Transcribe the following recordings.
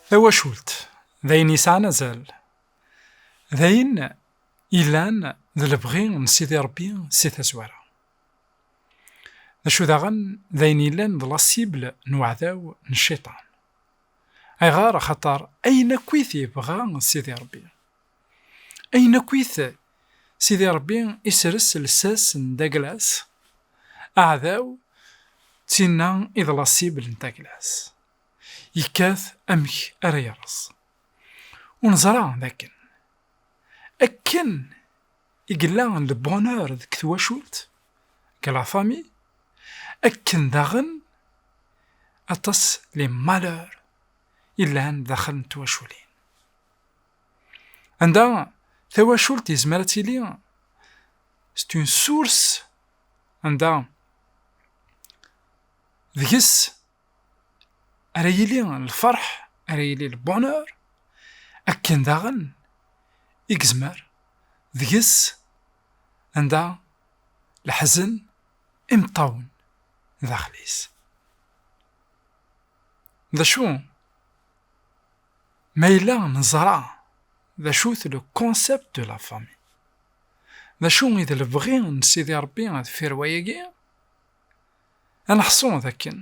Tawacult, d ayen yesɛan azal. D ayen ilan d lebɣi n Sidi Ṛebbi si tazwara. D acu daɣen d ayen yellan d lasibl n uɛdaw n cciṭan. Ayɣer? Axaṭer ayen akkit yebɣa Sidi Ṛebbi, Ayen akkit Sidi Rebbi isres lsas n Daglas, aɛdaw d tinna i d la cible n Daglas. Yekkat amek ara yerreẓ. Ur neẓra d akken, akken i yella le bonheur deg twacult, que la famille, akken daɣen aṭas les malheurs yellan daxel n twaculin. Anda tawacult yezmer ad tili c'est une source anda deg-s ara yili lferḥ ara yili le bonheur akken daɣen i yezmer deg-s anda leḥzen imeṭṭawen daxel-is. D acu Ma yella neẓra d acu-t le concept de la famille, d acu i d lebɣi n Sidi Rebbi deffir wayagi, ad neḥṣu d akken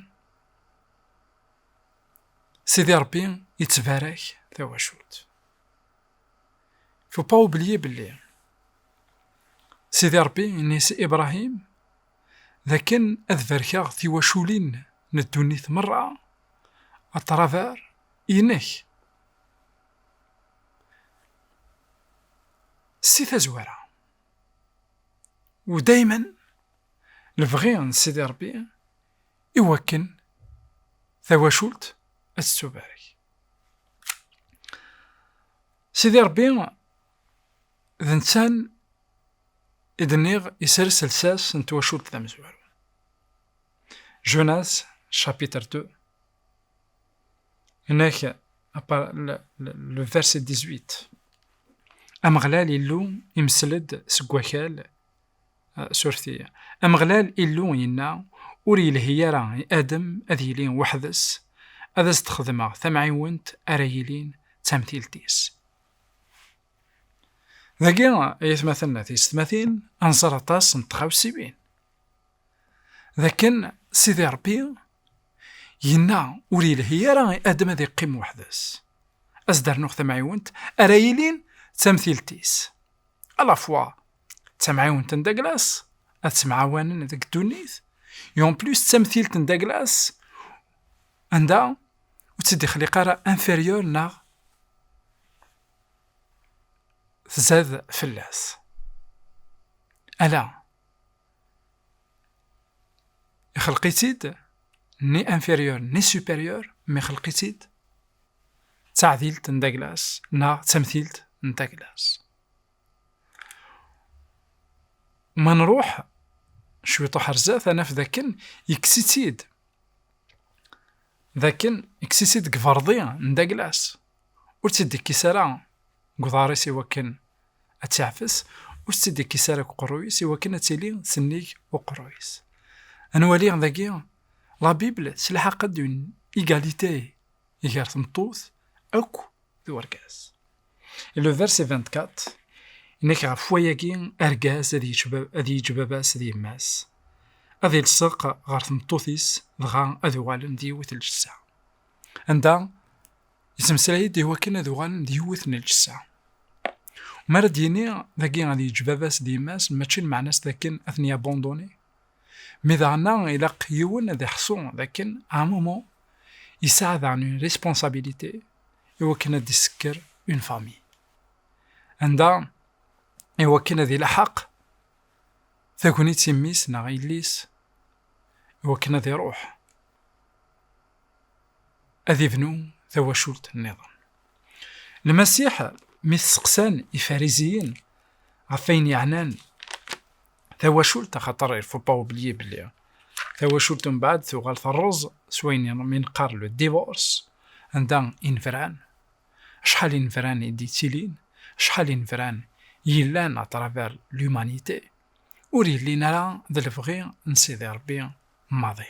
Sidi Rebbi yettbarak tawacult. Il faut pas oublier belli Sidi Rebbi yenna-as i Ibrahim d akken ad barkeɣ tiwaculin n ddunit merra a travers inek. Si tazwara, u daymen lebɣi n Sidi Rebbi i wakken tawacult ad tettubarek. Sidi Rebbi D nettan i d-nniɣ isers lsas n twacult tamezwarut. Jonas, chapitre 2. Nek, le verset 18. Ameɣlal Illu imsel-d seg wakal euh, surti. Ameɣlal Illu yenna ur yelhi ara i Adem ad yili weḥd-s, ad as-d-xedmeɣ tamɛiwent ara yilin d tamtilt-is. Dagi, ay atmaten tiyessetmatin, ad nẓer aṭas n tɣawsiwin. D akken Sidi Ṛebbi yenna ur yelhi ara i Adam ad iqqim weḥd-s. Ad s-d-rnuɣ tamɛiwent ara yilin d tamtilt-is. Alafwa d tamɛiwent n Daglas ad ttemɛawanen deg ddunit, i en plus d tamtilt n Daglas anda ur tt-id-ixliq ara inférieur neɣ tzad fell-as. Ala, ixelq-itt-id ni inférieur ni supérieur, mi xelq-itt-id d taɛdilt n Daglas neɣ d tamtilt n Daglas. Ma nruḥ cwiṭ uḥ ar zdat ad naf d akken yekkes-itt-id d akken yekkes-itt-id deg berḍi n Daglas. ur tt-id-ikkis ara deg uḍar-is i wakken ad tt-iɛfes, ur tt-id-ikkis ara deg uqerruy-is i wakken ad tili tennig uqerruy-is. Ad nwali dagi la Bible telḥaq-d une égalité gar tmeṭṭut akk d urgaz. Et le verset 24 inna-k ɣef wayagi argaz ad yečč ad yeǧǧ baba-s d yemma-s, ad ilseq ɣer tmeṭṭut-is dɣa ad uɣalen d yiwet ljessa. Anda Yettmeslay-d i wakken ad uɣalen d yiwet n lǧessa. Mi ara d-yini dagi ad yeǧǧ baba-s d yemma-s mačči lmeɛna-s d akken ad ten-yabonduni. Mi daɣen-a ilaq yiwen ad iḥṣu d akken à un moment yesɛa daɣen une responsabilité i wakken ad d-isekker une famille. Anda i wakken ad ilaḥaq tagnit i mmi-s neɣ yelli-s i wakken ad iruḥ. ad ibnu tawacult nniḍen. Lmasiḥ mi t-seqsan ifariziyin ɣef ayen yeɛnan tawacult axaṭer irfuṭa ublyi belli tawacult mbaɛd tuɣal terreẓ s wayen mi neqqar le divorce anda inefran acḥal inefran i d-yettilin acḥal inefran yellan à travers l'humanité ur yellin ara d lebɣi n Sidi Rebbi maḍi.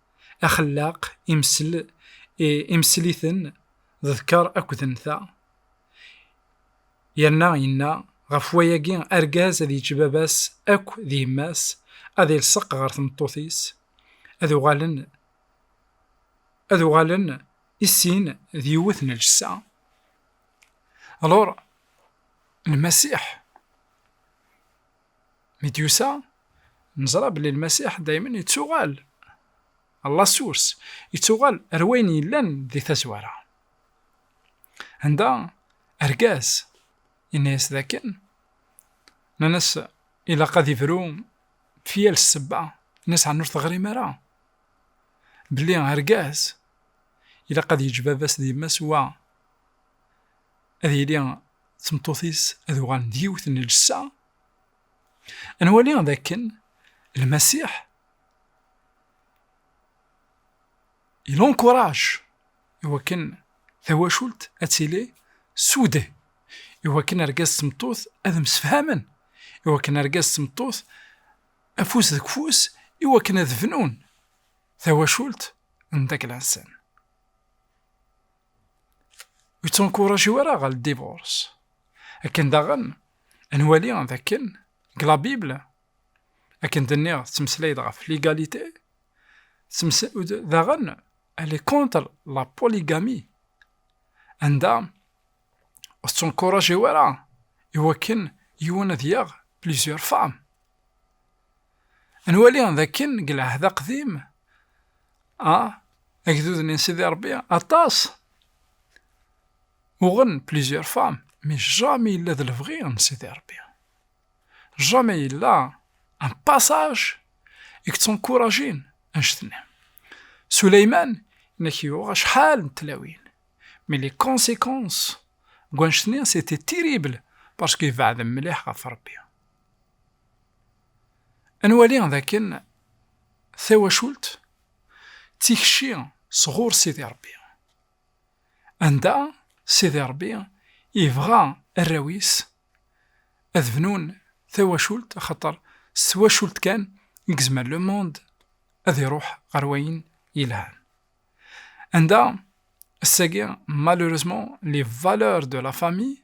axellaq, imsel, imsel-iten, ḍekker akked nta. Yerna yenna, ɣef wayagi argaz ad yeǧǧ baba-s akk d yemma-s, ad ilseq ɣer tmeṭṭut-is, ad uɣalen ad uɣalen i sin d yiwet n lǧessa. Alors, Lmasiḥ Mi d-yusa, neẓra belli Lmasiḥ daymen yettuɣal Allah Source, yettuɣal ar wayen yellan di tazwara. Anda argaz yenna-yas dakken, nnan-as ilaq ad ibru fi yal ssebba, nnan-as ɛni ur teɣrim ara belli argaz ilaq ad yeǧǧ baba-s d yemma-s wa ad yili d tmeṭṭut-is ad uɣalen d yiwet n ljessa, ad nwali d akken Lmasiḥ ilonkuraj i wakken tawacult ad tili sude, i wakken argaz d tmeṭṭut ad msefhamen, i wakken argaz d tmeṭṭut afus deg ufus, i wakken ad bnun tawacult n daglansen. ur ttunkuraǧu ara ɣer ldiburs. Akken daɣen, ad nwali d akken, deg la Bible, akken d-nniɣ tettmeslay-d ɣef ligalite, daɣen elle est contre la polygamie, anda ur ttunkuraǧu ara i wakken yiwen ad yaɣ plusieurs femmes. Nwali d akken deg lɛehd aqdim, a agdud-nni n Sidi Ṛebbi, aṭas uɣen plusieurs femmes, mais jamais yella d lebɣi n Sidi Ṛebbi. Jamais yella un passage i yeţţenkurajin annect-nni. Suleyman inek yuɣ acḥal n tlawin, mais les conséquences n wannect-nni c'étaient terribles parce que ibeɛden mliḥ ɣef Ṛebbi. Ad nwali d akken tawacult d tikci sɣur Sidi Ṛebbi, anda Sidi Ṛebbi yebɣa arraw-is ad bnun tawacult, axaṭer s twacult kan i yezmer le monde ad iṛuḥ ɣer wayen yelhan. Anda ass-agi, malheureusement, les valeurs de la famille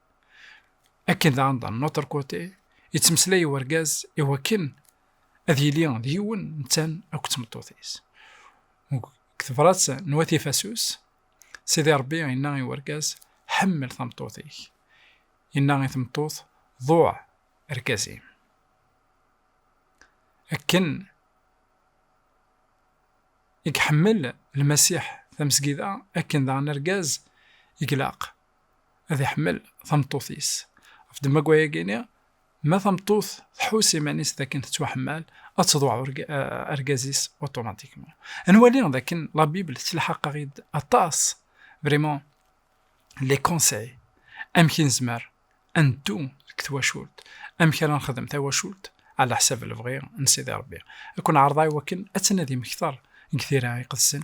Akken daɣen d notre côté, yettmeslay urgaz i wakken ad yili d yiwen ntan akk d tmeṭṭut-is. Deg tebrat n Wat Ifasus, Sidi Ṛebbi yenna i urgaz, Ḥemmel tameṭṭut-ik. Yenna i tmeṭṭut, Ḍuɛ argaz-im. Akken i iḥemmel Lmasiḥ tamesgida, akken daɣen argaz i ilaq ad iḥemmel tameṭṭut-is. Ɣef ddemma n wayagi-nni, ma tameṭṭut tḥuss iman-is d akken tettwaḥemmal, ad teḍwaɛ argaz-is otomatikman. Ad nwali d akken la Bible tettlḥaq-aɣ-id aṭas, vraiment, les conseils, amek i nezmer ad neddu deg twacult, amek ara nexdem tawacult ɛla ḥsab lebɣi n Sidi Rebbi. Ad ken-ɛerḍeɣ i wakken ad tnadim kter deg tira iqedsen